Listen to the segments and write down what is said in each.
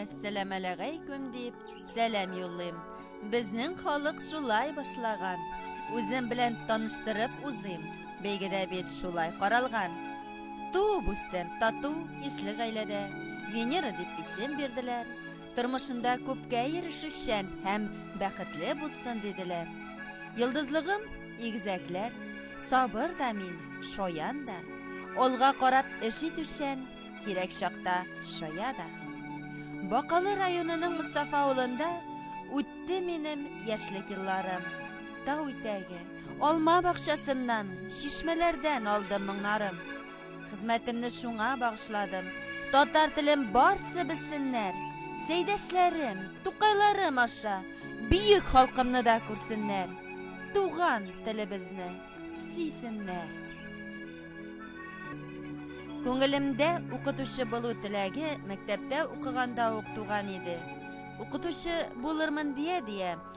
Әссәламәләгәйкүм дип сәлам юллыйм. Безнең халык шулай башлаган. Үзем белән таныштырып узыйм. Бәйгедә бит шулай каралган. Туып үстем тату ишле гаиләдә. Венера дип исем бирделәр. Тормышында күпкә ирешүчән һәм бәхетле булсын диделәр. Йолдызлыгым, игезәкләр, сабыр да мин, шаян да. Алга карап эш итүчән, кирәк чакта шая да. Бакалы районының Мустафа авылында үтте минем яшьлек елларым. Тау итәге, алма бакчасыннан, чишмәләрдән алдым моңнарым. Хезмәтемне шуңа багышладым. Татар телем барсы белсеннәр. Сәйдәшләрем, тукайларым аша бөек халкымны да күрсеннәр. Туган телебезне сисеннәр. Күңелемдә укытучы булу теләге мәктәптә укыганда ук туган иде. Укытучы булырмын дия-дия,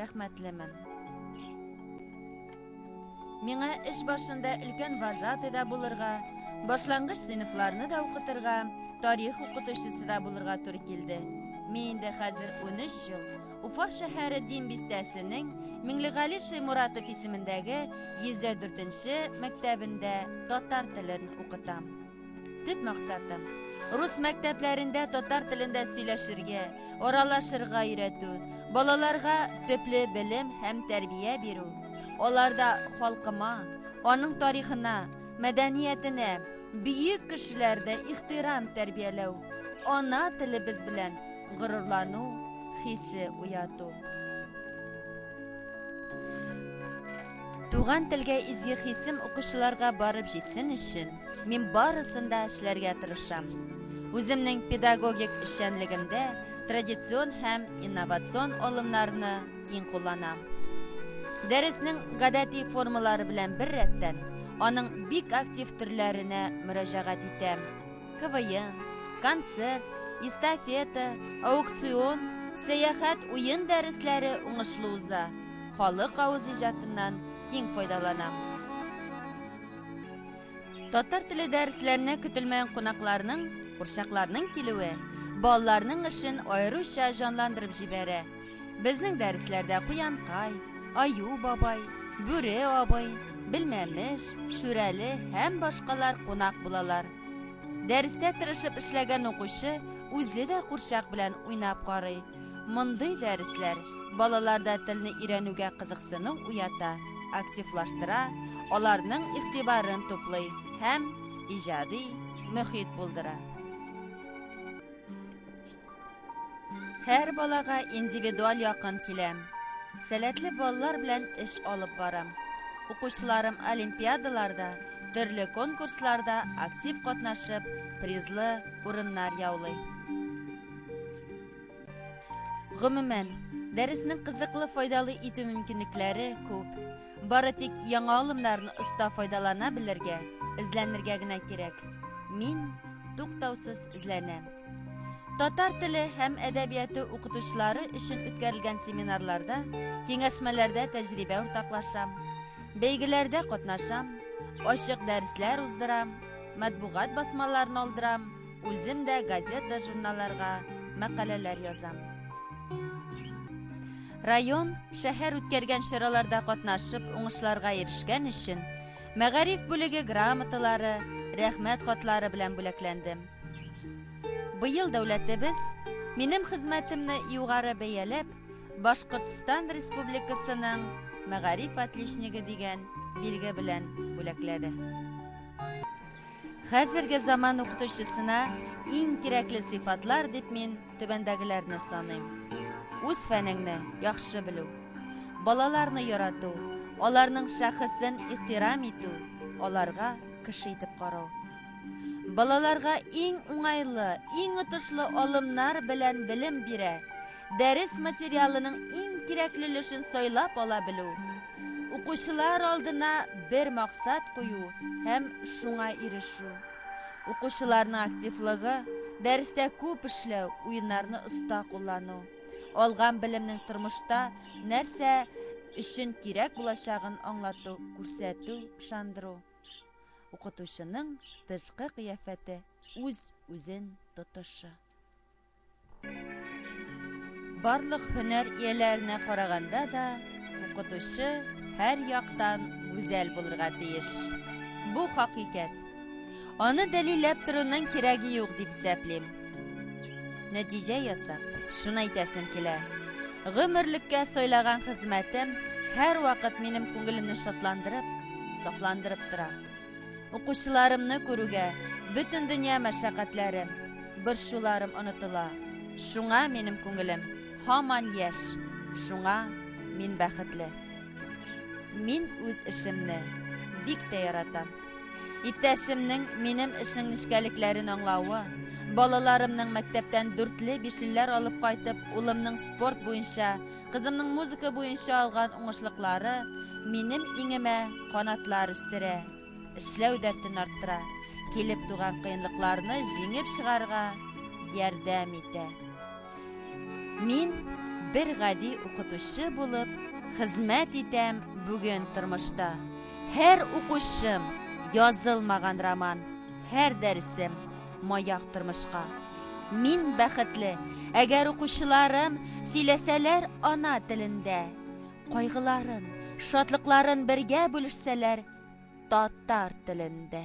Рәхмәтлемен. Миңа эш башында өлкән вожатый да булырга, башлангыч сыйныфларны да укытырга, тарих укытучысы да булырга туры килде. Мин инде хәзер 13 ел Уфа шәһәре Дин бистәсенең Миңлегали Шәймуратов исемендәге 104 нче мәктәбендә татар телен укытам. Төп максатым рус мәктәпләрендә татар телендә сөйләшергә, аралашырга өйрәтү, балаларга төпле белем һәм тәрбия бирү, аларда халкыма, аның тарихына, мәдәниятенә, бөек кешеләрдә ихтирам тәрбияләү, ана телебез белән горурлану хисе уяту. Туган телгә изге хисем укучыларга барып җитсен өчен, мин барысын да эшләргә тырышам. Үземнең педагогик эшчәнлегемдә традицион һәм инновацион алымнарны киң кулланам. Дәреснең гадәти формалары белән бер рәттән, аның бик актив төрләренә мөрәҗәгать итәм. КВН, концерт, эстафета, аукцион, сәяхәт, уен дәресләре уңышлы уза. Халык авыз иҗатыннан киң файдаланам. Татар теле дәресләренә көтелмәгән кунакларның, курчакларның килүе балаларның эшен аеруча җанландырып җибәрә. Безнең дәресләрдә Куянкай, Аю бабай, Бүре абый, Белмәмеш, Шүрәле һәм башкалар кунак булалар. Дәрестә тырышып эшләгән укучы үзе дә курчак белән уйнап карый. Мондый дәресләр балаларда телне өйрәнүгә кызыксыну уята, активлаштыра, аларның игътибарын туплый һәм иҗади мөхит булдыра. Һәр балага индивидуаль якын киләм. Сәләтле балалар белән эш алып барам. Укучыларым олимпиадаларда, төрле конкурсларда актив катнашып, призлы урыннар яулый. Гомумән, дәресне кызыклы файдалы итү мөмкинлекләре күп. Бары тик яңа алымнарны оста файдалана белергә, эзләнергә генә кирәк. Мин туктаусыз эзләнәм. Татар теле һәм әдәбияты укытучылары өчен үткәрелгән семинарларда, киңәшмәләрдә тәҗрибә уртаклашам, бәйгеләрдә катнашам, ачык дәресләр уздырам, матбугат басмаларын алдырам, үзем дә газета, журналларга мәкаләләр язам. Район, шәһәр үткәргән чараларда катнашып, уңышларга ирешкән өчен мәгариф бүлеге грамоталары, рәхмәт хатлары белән бүләкләндем. Быел дәүләтебез минем хезмәтемне югары бәяләп, Башкортстан Республикасының мәгариф отличнигы дигән билге белән бүләкләде. Хәзерге заман укытучысына иң кирәкле сыйфатлар дип мин түбәндәгеләрне саныйм. Үз фәнеңне яхшы белү, балаларны ярату, аларның шәхесен ихтирам итү, аларга кеше итеп карау. Балаларга иң уңайлы, иң отышлы алымнар белән белем бирә. Дәрес материалының иң кирәкле өлешен сайлап ала белү. Укучылар алдына бер максат кую һәм шуңа ирешү. Укучыларның активлыгы, дәрестә күп эшләү, уеннарны оста куллану. Алган белемнең тормышта нәрсә өчен кирәк булачагын аңлату, күрсәтү, ышандыру. Укытучының тышкы кыяфәте үз үзен тотышы. Барлык һөнәр ияләренә караганда да укытучы һәр яктан гүзәл булырга тиеш. Бу хакыйкәт. Аны дәлилләп торуның кирәге юк дип исәплим. Нәтиҗә ясап, шуны әйтәсем килә. Гомерлеккә сайлаган хезмәтем һәрвакыт минем күңелемне шатландырып, сафландырып тора. Укучыларымны күрүгә, бөтен дөнья мәшәкатьләрем, борчуларым онытыла. Шуңа минем күңелем һаман яшь, шуңа мин бәхетле. Мин үз эшемне бик тә яратам. Иптәшемнең минем эшнең нечкәлекләрен аңлавы, балаларымның мәктәптән дүртле бишелләр алып кайтып, улымның спорт буенча, кызымның музыка буенча алган уңышлыклары минем иңемә канатлар үстерә, эшләү дәртен арттыра, килеп туган кыенлыкларны җиңеп чыгарга ярдәм итә. Мин бер гади укытучы булып хезмәт итәм бүген тормышта. Һәр укучым, язылмаган роман, һәр дәресем, маяк тормышка. Мин бәхетле, әгәр укучыларым сөйләсәләр ана телендә, кайгыларын, шатлыкларын бергә бүлешсәләр татар телендә.